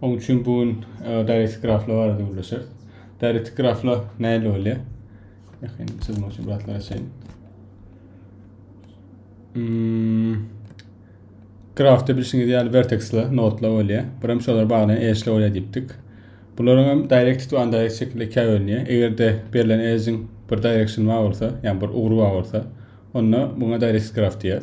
Oň üçin bu gün e, dairesiz graflar barada gürleşeris. Dairesiz graflar näle bolýar? Ýakyn çyzmak üçin biraz garaşaýyn. Hmm. Grafda bilşiňiz ýaly verteksler, nodlar bolýar. Bir hem şolar baglaýan edge'ler bolýar diýipdik. Bularyň hem directed we undirected şekilde ikiye bölünýär. Eger-de berlen edge'iň bir direction bar bolsa, ýagny bir ugry bar bolsa, onda buna directed graf diýýär.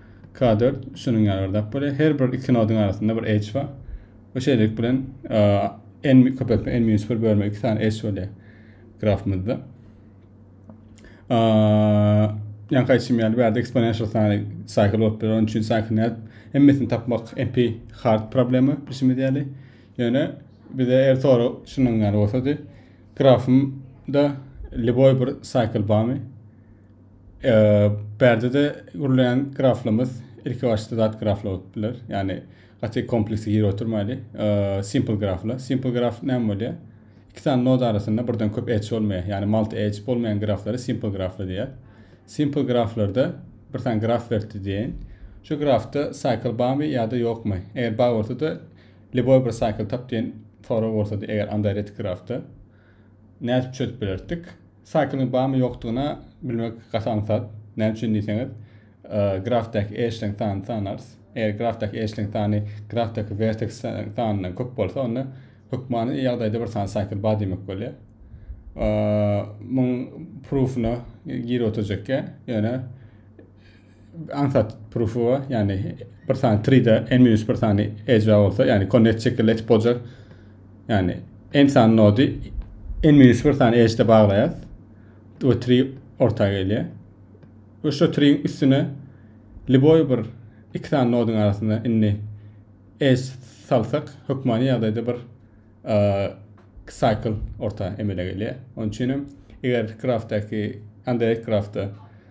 K dört şunuň ýaly bir zat bolýar. Her bir iki nodyň arasynda bir edge bar. We şeýlelik bilen n köpeltme n minus bir bölme iki sany edge bolýar grafymyzda. Ýa kaýçym ýaly bir ýerde eksponensial sany cycle bolup biler. Onuň üçin cycle näet hemmesini tapmak MP hard problema bilşimiz ýaly. Ýöne bize er soru şunuň ýaly bolsady. Grafymda liboy bir cycle barmy? Perdede gurulýan graflamyz ilki başda zat grafla bolup biler. Ýagny gaty kompleksli girip oturmaýly. Simple grafla. Simple graf näme bolýar? Iki sany nod arasynda birden köp edge bolmaýar. Ýagny multi edge bolmaýan graflary simple grafla diýýär. Simple graflarda bir sany graf berdi diýen. Şu grafda cycle barmy ýa-da ýokmy? Eger bar bolsa-da liboý bir cycle tap diýen sorag bolsa-da eger undirected grafda nädip çözüp bilerdik? Saýklyň barmy ýokdugyna bilmek gaty aňsat. Näme üçin diýseňiz, grafdaky eşleň sanyny sanarys. Eger grafdaky eşleň sany grafdaky werteks sanyndan köp bolsa, onda hökmany ýagdaýda bir sany saýkl bar diýmek bolýar. Muň proof-una girip oturjakka, ýöne aňsat proof-a, ýagny bir sany 3-de n minus bir sany edge bolsa, ýagny connect şekilde etip boljak. Ýagny n sany nody n minus bir sany edge-de baglaýas. Bu 3 orta gelýär. Bu şu 3 üstüne liboy bir iki sany nodyň arasynda indi edge salsak, hökmany ýagdaýda bir cycle orta emele gelýär. Onuň üçin hem eger graftdaki, underrated graftda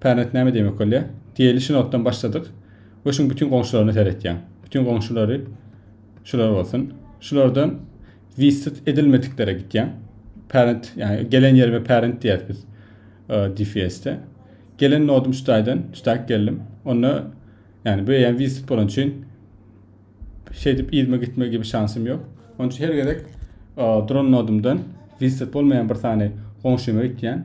Pernet näme diýmek bolýar? Diýeli şu notdan başladyk we şuň bütin goňşularyna seretýäň. Bütin goňşulary şular bolsun. Şulardan visited edilmediklere gitýäň. Pernet, ýagny gelen ýerime pernet diýýäs biz e, DFS-de. Gelen nodum şu taýdan, şu taýk geldim. Onda ýagny bu ýan visited bolan üçin şeýdip ýerime gitme gibi şansym ýok. Onun üçin her gezek e, duran nodumdan visited bolmaýan bir sany goňşyma gitýän.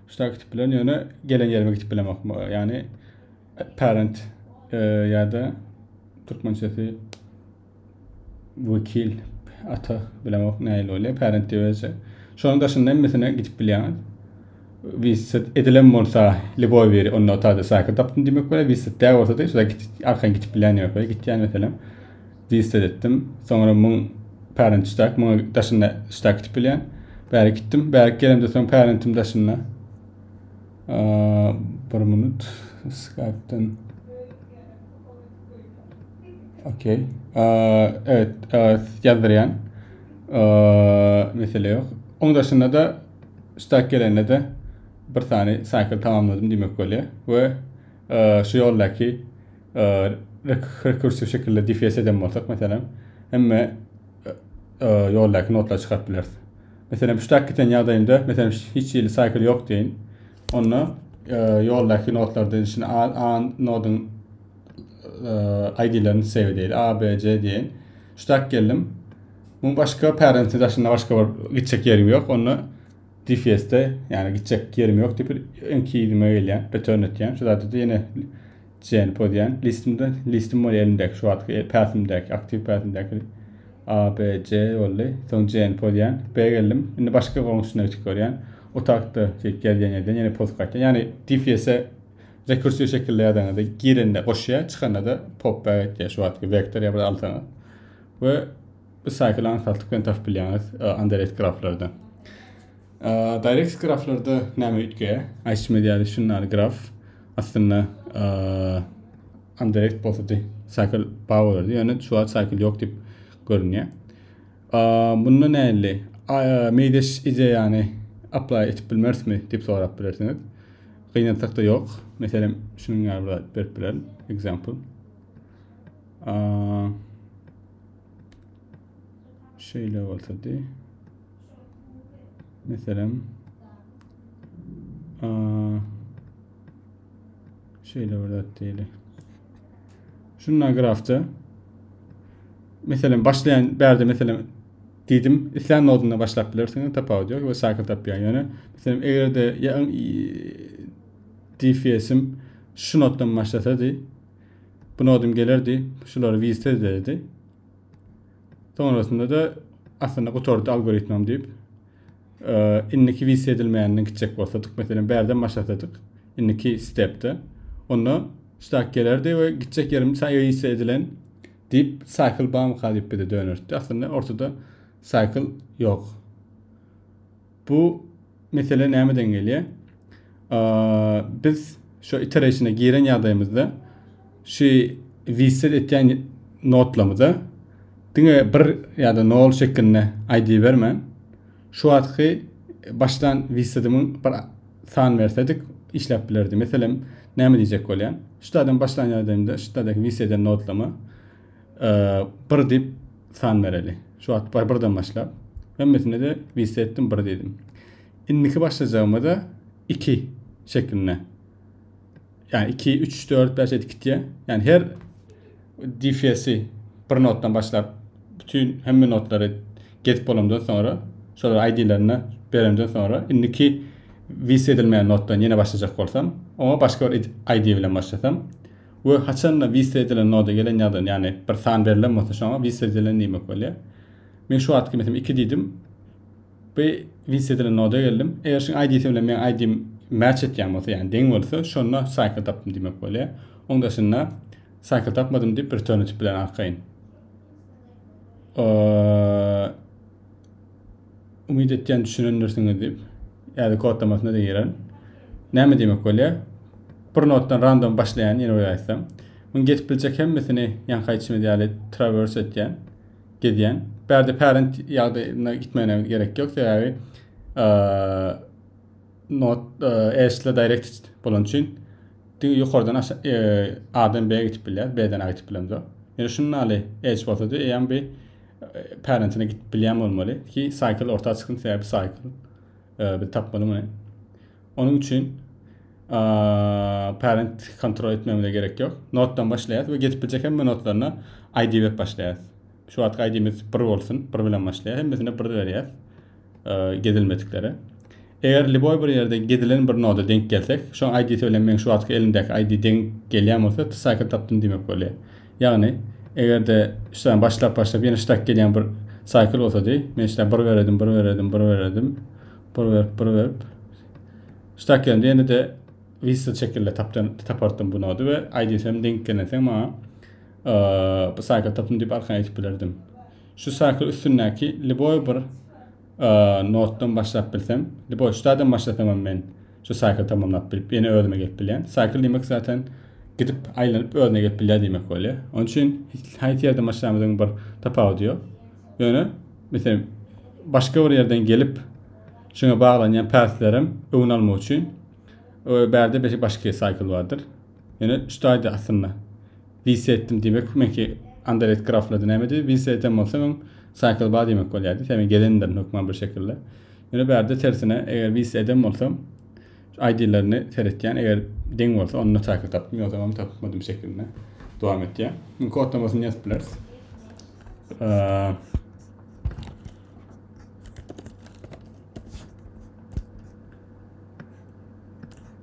Şuna gitip bilen ýöne gelen ýerime gitip bilemok. Ýani parent e, ýa-da türkmençesi wekil ata bilemok näil bolýar. Parent diýýärse. Şonuň daşynda hemmesine gidip bilýän. Visit edilen bolsa liboý biri on nota da saýka tapdym diýmek bolýar. Visit dä bolsa da şuda git arkan gidip bilýän ýok. Gitýän meselem. Diýip seretdim. Soňra muň pärenç çak, muňa daşynda çak gitip bilýän. Bärik gitdim. Bärik gelemde soň pärentim daşynda. Bir minut. Skype-dan. Okey. Evet, ýazdyrýan. Mesele ýok. Oň daşynda da çak gelende de bir sany cycle tamamladym diýmek bolýar we şu ýoldaky rekursiw şekilde defes eden bolsak, meselem, hemme ýoldaky notlary çykaryp bileris. Meselem, puştak giten ýagdaýynda, meselem, hiç hili cycle ýok deýin. Onda ýoldaky notlardan içine A, A nodyň ID-lerini save edýäli. A, B, C diýen. Puştak geldim. Muň başga parent daşynda başga bir gitjek ýerim ýok. Onda DFS-de, ýagny gitjek ýerim ýok diýip, enki ýerime gelýän, return etýän. Şu zatda ýene Jane Podian listimde listim bol elimdäki şu wagtky päsimdäki aktiw päsimdäki A B C boldy. Soň Jane Podian B geldim. Indi başga goňşyna geçip görýän. Otagda şey gelýän ýerden ýene post gaýtýan. Ýagny DPS-e rekursiýa şekilde ýazaňyzda girende goşýar, çykanda da pop back etýär şu wagtky vektor ýa bir alsaňyz. We bu cycle ankaltyp bilen tapyp bilýäňiz underrated graflarda. Direct graflarda näme üýtgeýär? Aýtmady ýaly şunlar graf. Aslynda Underact bolsady cycle bar bolardy. Ýöne şu wagt cycle ýok diýip görünýär. Bunda näli? Meýdeş ideýany apply etip bilmerismi diýip sorap bilersiňiz. Gynansakda ýok. Meselem, şunuň ýaly bir berip bilerin. Example. Şeýle bolsady. Meselem, şeýle bir zat diýeli. Şunda grafda meselem başlaýan bärde meselem diýdim, islän nodunda başlap bilersiňiz, tapawudy ýok we cycle tapýar. Ýöne meselem eger-de DFS-im şu notdan başlasady, bu nodum gelerdi, şulary visit ederdi. Sonrasynda-da aslynda gutardy algoritmam diýip, indiki wise edilmeýänini gitjek bolsadyk, meselem, bärden başlasadyk, indiki stepde, onda stak gelerdi we gitjek ýerim wise edilen diýip, cycle bamyka diýip bize dönerdi. Aslynda ortada cycle ýok. Bu mesele nämeden gelýär? Biz şu iterationa giren ýagdaýymyzda şu reset etýän notlamyza diňe bir ýa-da nol şeklinde ID bermän, şu wagtky başlan resetimiň bir san bersedik işläp bilerdi. Meselem, näme diýjek bolýan? Şu taýdan başlan ýagdaýymda şu taýdaky reset eden notlama 1 diýip san bereli. Şu wagt birden başlap, hemmesine-de liste etdim, 1 diýdim. Indiki başlajagymyza 2 şeklinde. Ýani 2, 3, 4, 5 edip gitýär. Ýani her DFS-i bir notdan başlap, bütün hemme notlary gezip bolamdan sonra, şolar ID-lerini berenden sonra, indiki liste edilmeýän notdan ýene başlajak bolsam, oňa başga bir ID bilen başlasam, We haçanda wise edilen noda gelen ýadan ýagny bir san berilen bolsa şoňa wise edilen diýmek bolýar. Men şu wagtky meselem iki diýdim. Bu wise edilen noda geldim. Eger şuň ID-si bilen meniň ID-im match etýän bolsa ýagny deň bolsa şonda cycle tapdym diýmek bolýar. Oň daşynda cycle tapmadym diýip return etip bilen arkaýyn. Eee Umyt etýän düşünendirsiňiz diýip. Ýa-da kodlamasyna-da giren. Näme diýmek bolýar? Bir notdan random başlaýan ýene bir aýtsam. Muň geçip biljek hemmesini ýaňky aýtşymyz ýaly traverse etýän, gezýän. Bärde parent ýagdaýyna gitmegine gerek ýok sebäbi Not, Ersle Directed bolan üçin diňe ýokardan A-dan B-ä gidip bilýär, B-den A gidip bilemzok. Ýöne şunda ýaly edge bolsady, eýýäm bir parentine gidip bilýän bolmaly ki, cycle orta çyksyn, sebäbi cycle biz tapmaly muny. Onuň üçin parent kontrol etmemize gerek ýok. Notdan başlaýarys we gidip biljek hemme notlaryna ID berip başlaýarys. Şu wagtky aýdymyz bir bolsun, bir bilen başlaýar. Hemmesine bir berýär. Gedilmediklere. Eger liboy bir ýerde gedilen bir noda denk gelsek, şoň aýdysy bilen meň şu wagtky elimdäki aýdy deň gelýän bolsa, tsaky tapdym diýmek bolýar. Ýagny, eger-de şudan başlap başlap ýene şudak gelýän bir saýkyl bolsady, men şudan bir bererdim, bir bererdim, bir bererdim. Bir berip, bir berip. Şudak gelende ýene-de whistle şekilde tapdan tapardym bu nody we aýdysy hem denk gelenseň maňa Bu saýta tapyn diýip arkan aýdyp bilerdim. Şu saýtyň üstündäki liboý bir notdan başlap bilsem, liboý şu taýdan başlasam hem men şu saýty tamamlap bilip, ýene özüme gelip bilýän. Saýkl diýmek zaten gidip aýlanyp özüne gelip bilýär diýmek bolýar. Onuň üçin haýsy ýerden başlamyzyň bir tapawudy ýok. Ýöne meselem başga bir ýerden gelip şuňa baglanýan päslerem öňüni almak üçin bärde beşi başga saýkl bardyr. Ýöne şutaýdy aslynda. Wise etdim diýmek meňki Underrated graflady nämedi? Wise eden bolsam hem cycle bar diýmek bolýardy. Sebäbi gelendirin hökman bir şekilde. Ýöne bu ýerde tersine eger wise eden bolsam ID-lerini seretýän eger deň bolsa onda cycle tapdym ýogsa hem tapmadym şekilinde dowam etýär. Indi kodlamasyny ýazyp bileris.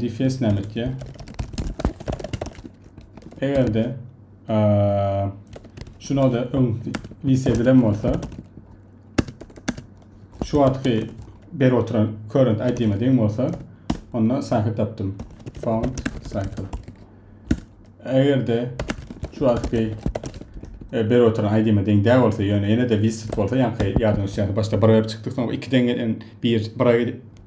defense näme etýär? Eger-de şu noda öň lise edilen bolsa şu wagtky ber oturan current ID'me deň bolsa onda cycle tapdym. Found cycle. Eger-de şu wagtky e, ber oturan ID'me deň däl bolsa, ýöne ýene-de visit bolsa, ýaňky ýadyň üstünde başda bir berip çykdyk, soň iki deň gelen bir bir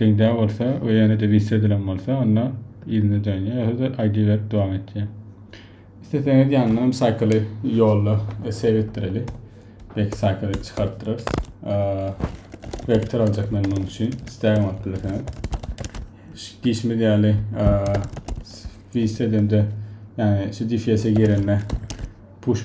Deň-dä bolsa we ýene-de wise edilen bolsa onda yzyna dönýär ýa-da aýdyberip dowam etýär. Isleseňiz ýanyna hem saýkaly ýolda save etdireli. Belki saýkaly çykartdyrarys. Vektor aljak men munuň üçin. Stagem alyp bilersiňiz. Diýişimiz ýaly wise edende ýani şu DFS-e girende push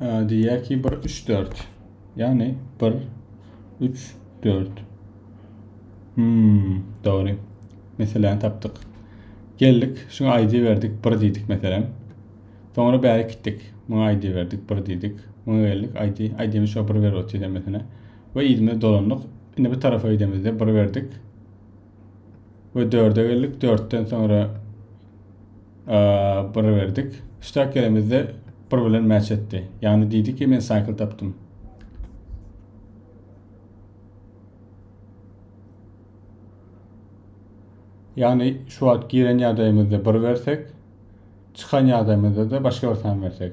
Diýýär ki, bir, üç, dört. Ýagny bir, üç, dört. Hmm, dogry. Meseläni tapdyk. Geldik, şuňa aýdy berdik, bir diýdik meselem. Soňra bäri gitdik. Muňa aýdy berdik, bir diýdik. Muňa geldik, aýdy, aýdymy şo bir berip otyrdy meselä. We ýüzümiz dolandyk. Indi bir tarafa gidemizde bir berdik. we dörde geldik. Dörtden sonra bir berdik. Üstad gelemizde bir bilen match etdi. Yani dedi ki men cycle taptım. Yani şu wagt giren ýagdaýymyzda bir bersek, çykan ýagdaýymyzda da başga bir san bersek.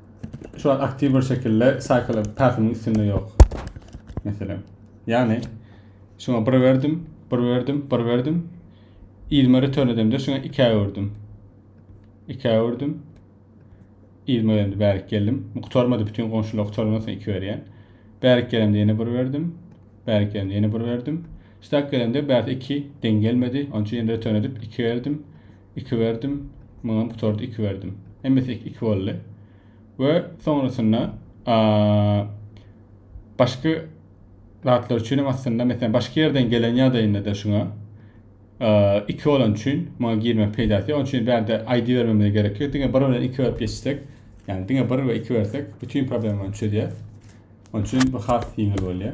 Şu an aktiw bir şekilde cycle pathymyň üstünde ýok. Meselem. Ýagny şuňa bir berdim, bir berdim, bir berdim. Izme return edemde şuňa 2 öwürdim. 2 öwürdim. Izme öwürdim, bärik geldim. Bu gutarmady, bütün goňşular gutarmasyn 2 berýän. Bärik gelemde ýene bir berdim. Bärik gelemde ýene bir berdim. Şutak gelemde bärik 2 deň gelmedi. Onçu ýene return edip 2 berdim. iki berdim, muňam gutardy iki berdim. Hemmesi iki iki boldy. We soňrasynda başga zatlar üçin hem aslynda mesela başga ýerden gelen ýagdaýynda da şuňa iki bolan üçin muňa girmek peýdasy ýok. Çünki bärde ID bermemize gerek ýok. Diňe bir bilen iki berip geçsek, ýagny diňe bir we iki bersek bütin problemany çözýär. Onun için bu has ýeňil bolýar.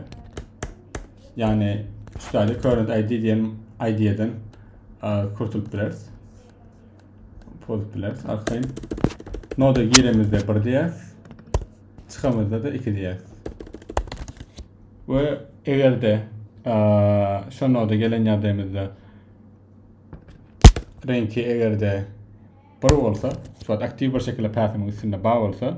Yani şu taýda current ID diýen ID-den kurtulyp bileris. Pozup bileris. Arkaýyn. Noda giremizde 1 diýäs. Çykamyzda da 2 diýäs. Ve eger de şu noda gelen ýagdaýymyzda renki eger de bir bolsa, şu aktiv bir şekilde päsimiň üstünde bar bolsa,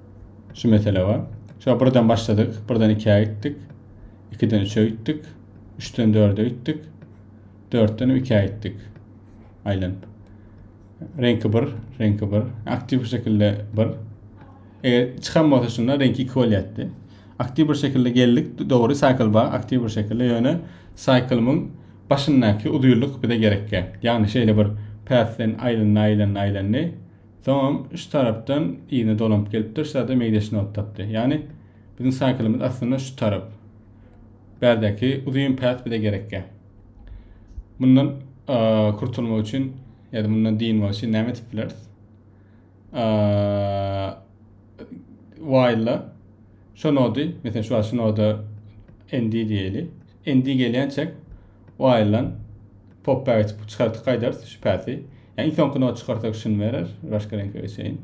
Şu mesele bar. Şo birden başladyk, birden ikiä gitdik. Ikiden üçe gitdik. Üçden dörde gitdik. Dörtden ikiä gitdik. Aýlanyp. Reňki bir, reňki bir. Aktiv şekilde bir. Eger çykan bolsa şunda reňki iki bolýatdy. Aktiv bir şekilde geldik, dogry cycle bar, aktiv bir şekilde. Ýöne cycle-myň başyndaky uzynlyk bize gerekýär. Ýagny şeýle bir path-den aýlandy, aýlandy, aýlandy. Soňam şu tarapdan yzyna dolanyp gelipdir, şu zada meýdaşyny alyp tapdy. Ýagny biziň saýkylymyz aslynda şu tarap. Bärdäki uzyn päs bize gerekkä. Mundan kurtulmak üçin ýa-da mundan dynmak üçin näme edip bileris? While-la şu nody, meselem şu şu noda endi diýeli. Endi gelýänçäk Wild'dan popba geçip çykartgy gaýdarys şübhäsi. Ýa iň soňky nod çykarsak şuny berer, başga reňke geçeýin.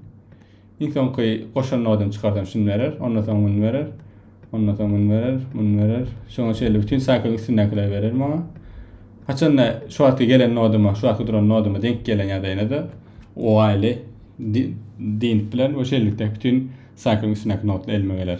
Iň soňky goşan nodyny çykarsam şuny berer, ondan soň muny berer. Ondan soň muny berer, muny berer. Şoňa şeýle bütün saýklyň üstündekileri berer maňa. Haçanda şu wagtky gelen noduma, şu wagtky duran noduma denk gelen ýagdaýynda-da Wild'i dynp bilen we şeýlelikde bütün saýklyň üstündäki nodlar elime geler.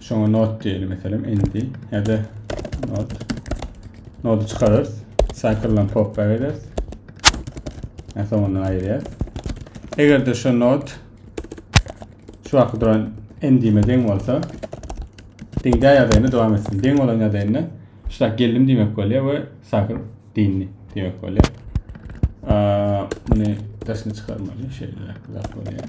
Şoňa not diýeli meselem endi ýa-da not. Nody çykararys. Cycle-dan pop-back ederis. Ýa soňundan aýyrýarys. Eger-de şu not şu wagtky duran endime deň bolsa, deňdä ýadaýyny dowam etsin. Deň bolan ýadaýynda şular geldim diýmek bolýar we cycle dyndy diýmek bolýar. Muny daşyna çykarmaly, şeýle zat bolýar.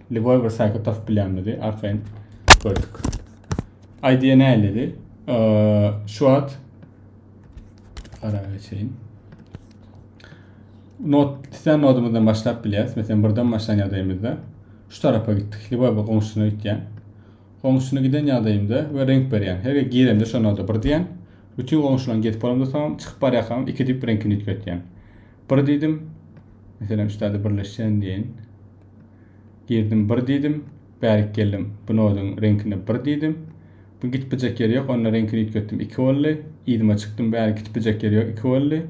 Lýuboý bir saýty tapyp bilýänmidi, arkaýyn gördük. Aýdýa näýledi? Şu wagt ara geçeýin. Not, sen nodumuzdan başlap bilýäs. Meselem, birden başlan ýagdaýymyzda şu tarapa gitdik. Lýuboý bir goňşusyna gitýän. Goňşusyna giden ýagdaýymda we renk berýän. Her girende şu noda bir diýen. Bütün goňşularyň gezip bolamda soň çykyp barýarkam iki diýip reňkini üýtgetýän. Bir diýdim. Meselem, şu tada birleşýän diýen. Girdim bir diýdim, bärik geldim, bu nodyň reňkine bir diýdim. Bu gitbijek ýeri ýok, onda reňkini üýtgetdim, iki boldy. Yzyma çykdym, bärik gitbijek ýeri ýok, iki boldy.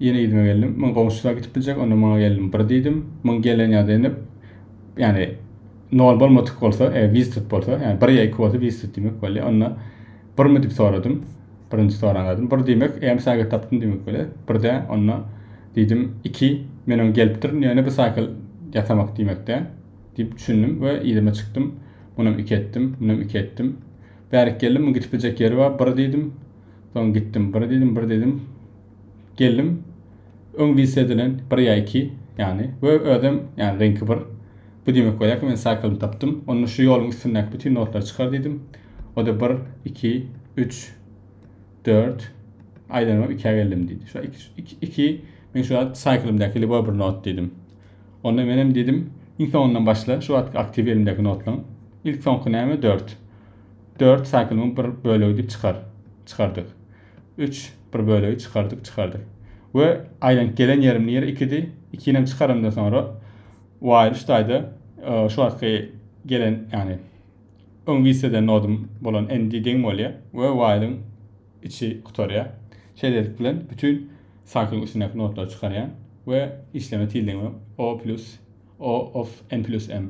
Ýene yzyma geldim, muň goňşusy-da gitbijek, onda muňa geldim, bir diýdim. Muň gelen ýa-da indi, ýagny nol bolmadyk bolsa, eger visited bolsa, ýagny bir ýa iki bolsa visited diýmek bolýar, onda Birmi diýip soradym. Birinji soran zadym bir diýmek, äm şagyrt tapdym diýmek bolýar. Birde onda diýdim, iki, men oň gelipdirin, ýöne bu saýkal ýasamak diýmekdä diýip düşündim we yzyma çykdym. Munam iki etdim, munam iki etdim. Bärik geldim, muň gidip biljek ýeri bar, bir diýdim. Soň gitdim, bir diýdim, bir diýdim. Geldim. Öň diss edilen bir ýa iki, ýagny we özem, ýagny reňki bir. Bu diýmek bolýar ki, men cycle-ny tapdym. Onda şu ýoluň üstündäki bütin notlary çykar diýdim. O-da bir, iki, üç, dört, aýlanybam ikä geldim diýdi. Şu iki, iki, men şu wagt cycle-ymdaky lýuboý bir not diýdim. Onda menem diýdim, iň soňundan başla, şu wagtky aktiw elimdäki notlaň. Ilk soňky näme? Dört. Dört cycle-myň bir bölegi diýip çykar. Çykardyk. Üç, bir bölegi çykardyk, çykardyk. We aýlanyp gelen ýerim nire ikidi, ikinem çykarandan soňra while üç taýda şu wagtky gelen ýagny öň wise eden nodum bolan endi deň bolýar we while-yň içi gutarýar. Şeýlelik bilen bütin cycle-yň içindäki nodlary çykarýan we işleme tildigim o plus o of n plus m.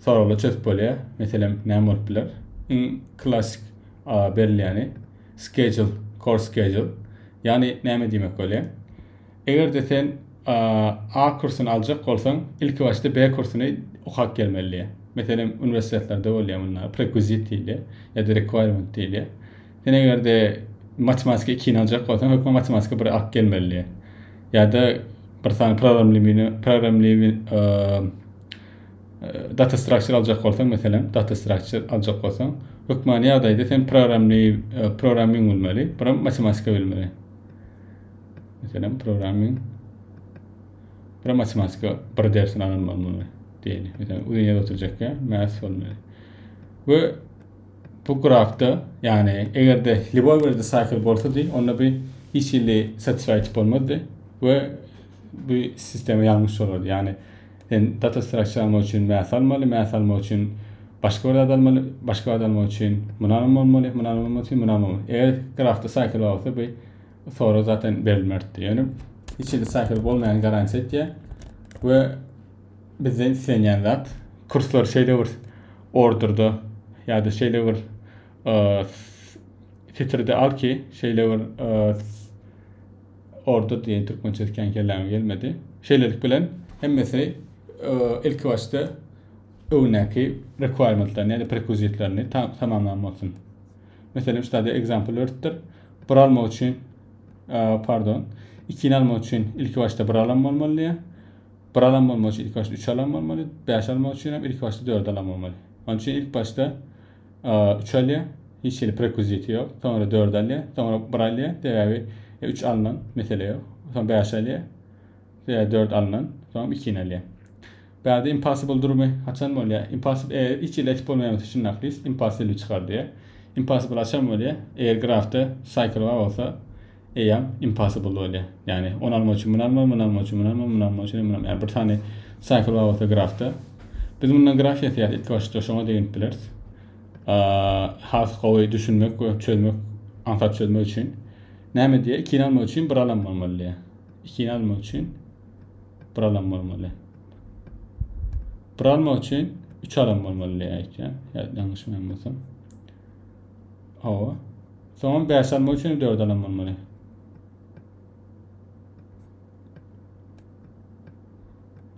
Soraglar çözüp bolýar. Meselem, näme bolup biler? Iň klassyk berilýäni schedule, course schedule. Ýagny näme diýmek bolýar? Eger-de sen A kursuny aljak bolsaň, ilki başda B kursuny okap gelmeli diýýär. Meselem, uniwersitetlerde bolýar munlar, prekwizit diýilýär ýa-da requirement diýilýär. Sen eger-de matematika ikini aljak bolsaň, hökman matematika biri alyp gelmeli diýýär. Ýa-da bir sany programlewini, programlewi, Data structure aljak bolsaň, meselem, data structure aljak bolsaň, hökmany ýagdaýda sen programni, programming bilmeli, program matematika bilmeli. Meselem, programming program matematika bir dersini alan bolmaly diýeli. Meselem, uzun ýerde oturjakka math bolmaly. We bu grafda, ýagny eger-de liboý bir disakl bolsady, onda bir hiç hili satisfy etip bolmazdy we bu sistema ýalňyş bolardy. Ýagny Sen data strakt çalmak üçin mäs almaly, mäs almak üçin başga bir zat almaly, başga zat almak üçin munam bolmaly, munam bolmak üçin munam bolmaly. Eger grafda cycle bar bolsa bu sorag zaten berilmerdi. Ýöne hiç hili cycle bolmaýan garantiýa etýär we bizden islenýän zat kurslar şeýle bir orderda ýa-da şeýle bir e, fitrde al ki, şeýle bir e, Orta diýen türkmen sözi kän kelläme gelmedi. Şeýlelik bilen hemmesi ilki başda öňdäki requirementlerini, ýa-da prerequisitlerini tamamlan bolsun. Meselem, şeýle example örtdür. Bir alma üçin, pardon, ikini almak üçin ilki başda bir alam bolmaly diýýär. Bir alam bolmak üçin ilki başda üç alam bolmaly, beş almak üçin hem ilki başda dört alam bolmaly. Onuň üçin ilk başda Üç alýa, hiç hili prekwiziti ýok. Soňra dört alýa, soňra bir alýa, sebäbi üç alnan, mesele ýok. Soň bäş alýa, sebäbi dört alnan, soňam ikini alýa. Bärde impossible durmy haçan bolýa? Impossible eger hiç hili etip bolmaýan bolsa şunda aklis impossible çykar diýýär. Impossible haçan bolýa? Eger grafda cycle bar bolsa, Eýýäm impossible bolýar. Ýagny ony almak üçin muny almaly, muny almak üçin muny almaly, muny almak üçin hem muny almaly. Ýagny bir sany cycle bar bolsa grafda. Biz mundan graf ýasaýarys. Ilki başda şoňa deginip bileris. Has gowy düşünmek we çözmek, aňsat çözmek üçin. Näme diýýär? Ikini almak üçin bir alan bolmaly diýýär. Ikini almak üçin bir alan bolmaly. Bir almak üçin üç alan bolmaly diýýär. Ýa ýalňyşmaýan bolsam. Hawa. Soňam 5 almak üçin 4 alan bolmaly.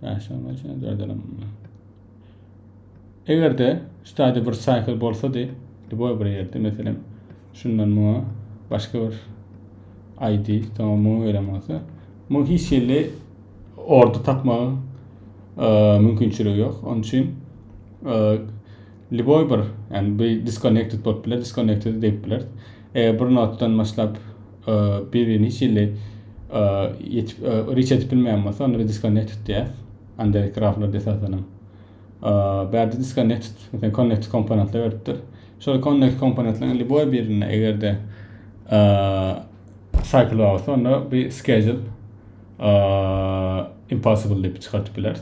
Beş almak üçin 4 alan bolmaly. Eger de ştada bir cycle bolsa de, Duboy bir yerde meselem şundan muňa başka bir ID soňa muňa gelen bolsa, muň hiç ýerde orda tapmagyň e, mümkinçiligi ýok. Onun üçin e, Lýuboý bir, ýagny bu disconnected bolup biler, disconnected diýip bileris. Eger bir notdan başlap bir-birini hiç hili ýetip reach edip bilmeýän bolsa, onda biz disconnected diýýäs. Anderi graflarda esasan hem. Bärde disconnected, mesela connected komponentler beripdir. Şol connected komponentleriň lýuboý birinde eger-de cycle bar bolsa, onda bir schedule impossible diýip çykardyp bileris.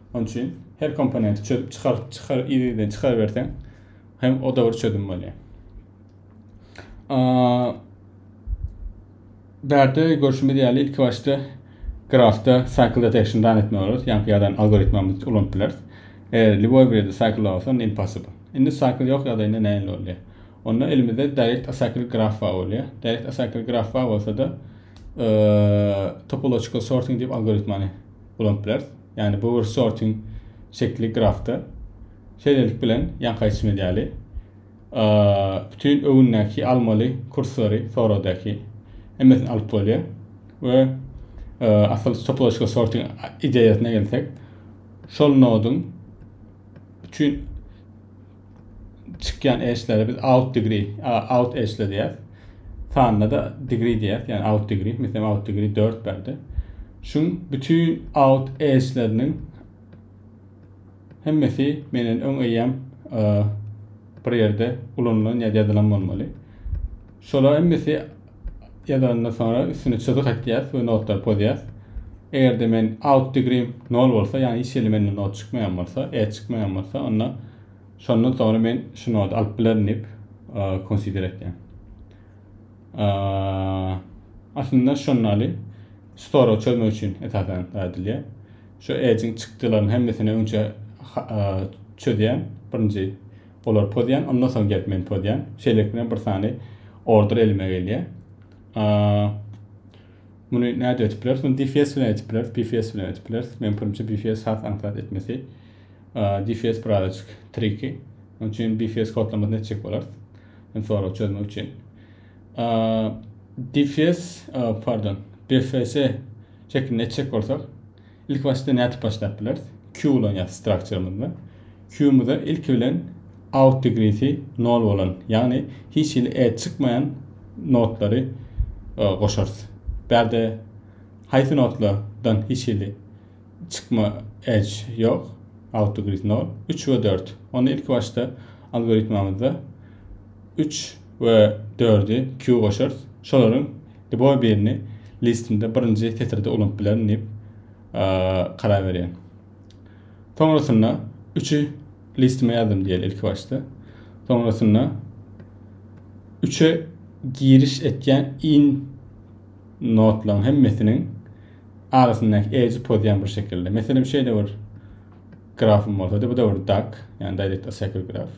Şonuň üçin her komponenti çözüp çykaryp çykar ýerden çykaryberseň hem o da bir çözüm bolýar. Bärde görüşimiz ýaly ilk başda grafda cycle detection dan etmek bolar. Ýa ýadan algoritmamyzy ulanyp bileris. Eger liboy bir ýerde cycle bolsa, onda impossible. Indi cycle ýok ýa da indi näme bolýar? Onda elimizde direct acycle graf bar bolýar. Direct acycle graf bar bolsa da, topological sorting diýip algoritmany ulanyp bileris. ýagny bu bir sorting şekli grafda. Şeýlelik bilen, ýaňky aýtşymyz ýaly, bütin öwündäki almaly kurslary sorowdaky hemmesini alyp bolýar we asyl topologiki sorting ideýasyna gelsek, şol noduň üçin çykýan eşleri biz out degree, out eşle diýýär. Sanda da degree diýýär, ýani out degree, meselem out degree 4 berdi. Şun bütün out eşleriniň hemmesi menen öň eýýäm e, bir ýerde ulanylan ýa ýazylan bolmaly. Şolar hemmesi ýazanyndan soňra üstüne çyzyk atýas we notlary pozýas. Eger-de men out degreem 0 bolsa, ýagny hiç hili mende not çykmaýan bolsa, E çykmaýan bolsa, onda şondan soňra men şu nody alyp bilerin diýip, consider etýän. Aslynda şondaly şu soragy çözmek üçin esasan edilýär. Şu edge-iň çykdylarynyň hemmesini öňçe çözýän birinji Olar pozýan, ondan soň gelip men pozýan. Şeýlelik bilen bir sany order elime gelýär. Muny näde etip bileris? Muny DFS bilen etip bileris, BFS bilen etip bileris. Men pirimçe BFS has aňsat etmesi. DFS birazajyk triki. Onun için BFS kodlamasyny etjek bolarys. Hem sorag çözmek için. DFS, pardon, BFS şeklinde etjek bolsak, Ilki başda nädip başlap bileris? Q ulanýas strukturymyzda. Q-myza ilki bilen out degreesi nol bolan, ýagny hiç hili add çykmaýan nodlary goşarys. Bärde haýsy nodlardan hiç hili çykma edge ýok, out degrees nol? Üç we dört. Onda ilki başda algoritmamyzda üç we dördi Q goşarys. Şolaryň liboý birini listinde birinji setirde ulanyp bilerin diýip karar berýän. Soňrasynda üçi listime ýazdym diýeli ilki başda. Soňrasynda üçe giriş etýän in notlaryň hemmesiniň arasyndaky edge pozýan bir şekilde. Meselem şeýle bir grafym bolsady, bu-da bir dark, ýagny direct acycle graf.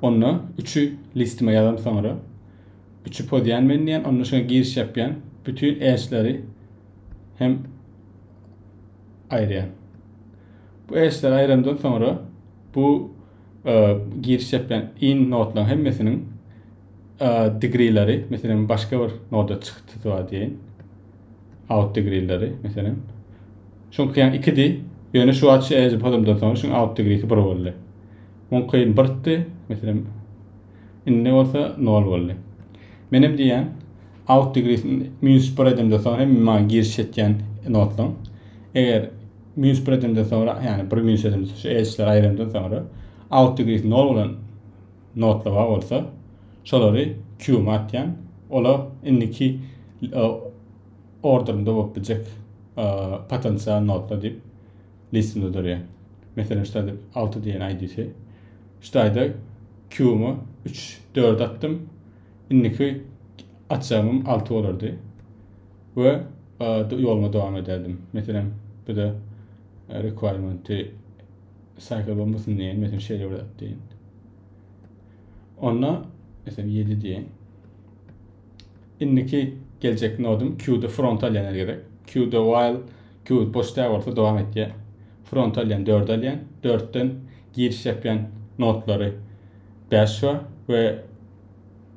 Onda üçi listime ýazan soňra üçi podýan men diýen, onda şoňa giriş ýapýan, bütin edgeleri hem aýyrýan. Bu edgeleri aýyrandan soňra bu e, giriş ýapýan in nodlaryň hemmesiniň e, degreeleri, meselem başga bir noda çykdy diýen. Autdigrilleri, meselem. Şuň kyn ikidi, ýöne şu wagt şu ejip adamdan soň şuň autdigrisi bir boldy. Muň kyn birtdi, meselem. Indi bolsa nol boldy. Menem diýýän, autdigrisini minus bir edemden soň hem maňa giriş etýän notlaň. Eger minus bir edemden soňra, ýagny bir minus edemden şu ejipleri aýyrandan soňra autdigrisi nol bolan notlawa bolsa şolary Q-ma atýan. Ola indiki orderinde bolup biljek potensial notlar diýip listimde durýar. Meselem, şu taýda 6 diýen ID-si. Şu taýda Q-ma 3, 4 atdym. Indiki atjagym 6 bolardy. We ýoluma dowam ederdim. Meselem, bu-da requirement-i Cycle bombasyn diýen, mesela şeýle bir zat diýen. Onda mesela 7 diýen. Indiki geljek nodum Q-da front alýan gerek. Q-da while Q boş däl bolsa dowam etýär. Front alýan 4 alýan. 4-den giriş ýapýan nodlary 5 we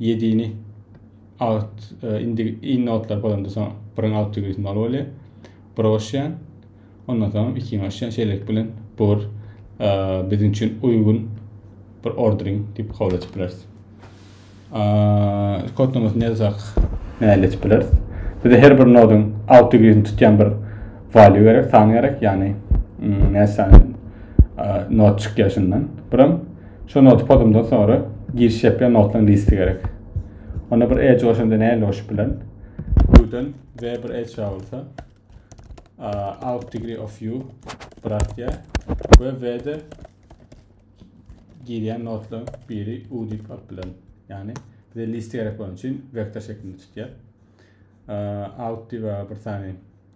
Ýedini out e, indi in notlar bolanda soň bring out to use maly bolýar. Broşýan. Ondan soň ikiň aşýan şeýlelik bilen bu bir e, biziň üçin uýgun bir ordering diýip kabul edip bileris. Kodnamasyny ýazsak, näle edip bileris? Bize her bir noduň out degreesini tutýan bir value gerek, san gerek, ýagny näçe sany not çykýar şundan. Buram Şu noty podumdan soňra giriş ýapýan notlaryň listi gerek. Onda bir e joşanda näle joşup bilen? Gürden ve bir e çawulsa out degree of u bırakya ve ve de girýän notlaryň biri u diýip alyp bilen. Ýagny bize listi gerek bolan üçin vektor şeklinde tutýar. Out diýip bir sany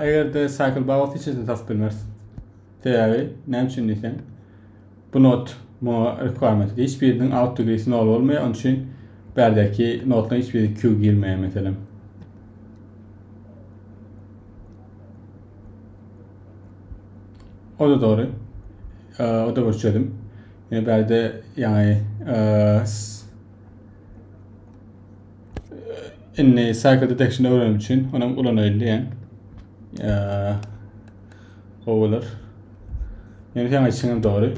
Eger de cycle baba seçilsin tas bilmez. Sebebi näme üçin diýseň bu not bu requirement hiç biriniň out degree nol bolmaýar. Onun üçin berdeki notlaryň hiç biri Q girmeýär meselem. O da doğru. Ee, o da bir çözüm. Ýöne bärde ýaňy indi cycle detection öwrenmek üçin ony ulanaýyn diýen. O bolar. Ýöne ýaňy içiňe dogry.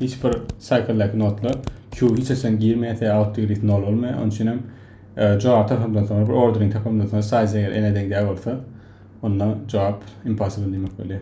Hiç bir cycle-däki notlar Q hiç açan girmeýärse out degrees nol bolmaýar. Onun üçin hem jogap tapamdan soňra bir ordering tapamdan soňra size eger n-e deňdäki bolsa onda jogap impossible diýmek bolýar.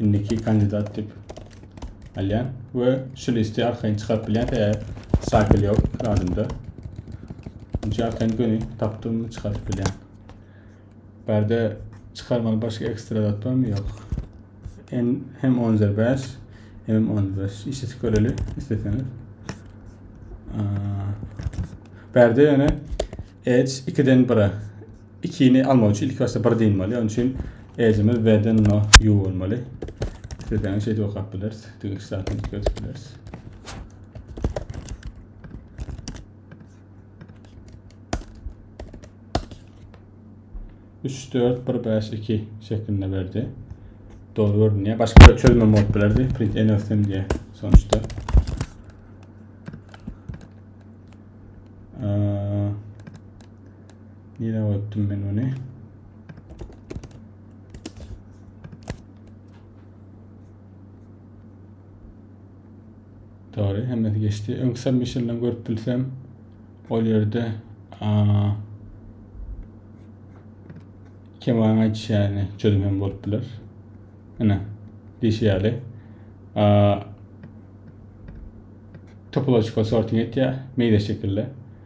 indiki kandidat diýip alýan we şu listi arkaýyn çykaryp bilýän tä şakil ýok adymda. Şu arkaýyn göni tapdym çykaryp bilýän. Bärde çykarmaly başga ekstra zat barmy? Ýok. En hem 10.5 hem 10.5 işi göreli isteseňiz. Bärde ýöne Edge 2-den 1-e Ikini almak üçin ilk başda bir diýmeli. Onun üçin ejimiz veden no yu bolmaly. Sizden şey de okap biliriz. Dünki saatini görüp biliriz. Üç, dört, bir, beş, iki şeklinde verdi. Doğru gördüm ya. Başka bir çözme mod bilerdi. Print en ösem diye sonuçta. Ee, Nirä goýupdym men muny? Dogry, hemmesi geçdi. Öňki submissiondan görüp bilsem, ol ýerde keman aýdyşy ýaly çözüm hem bolup biler. Ine, diýşi ýaly. Topological sorting etýär, meýze şekilde.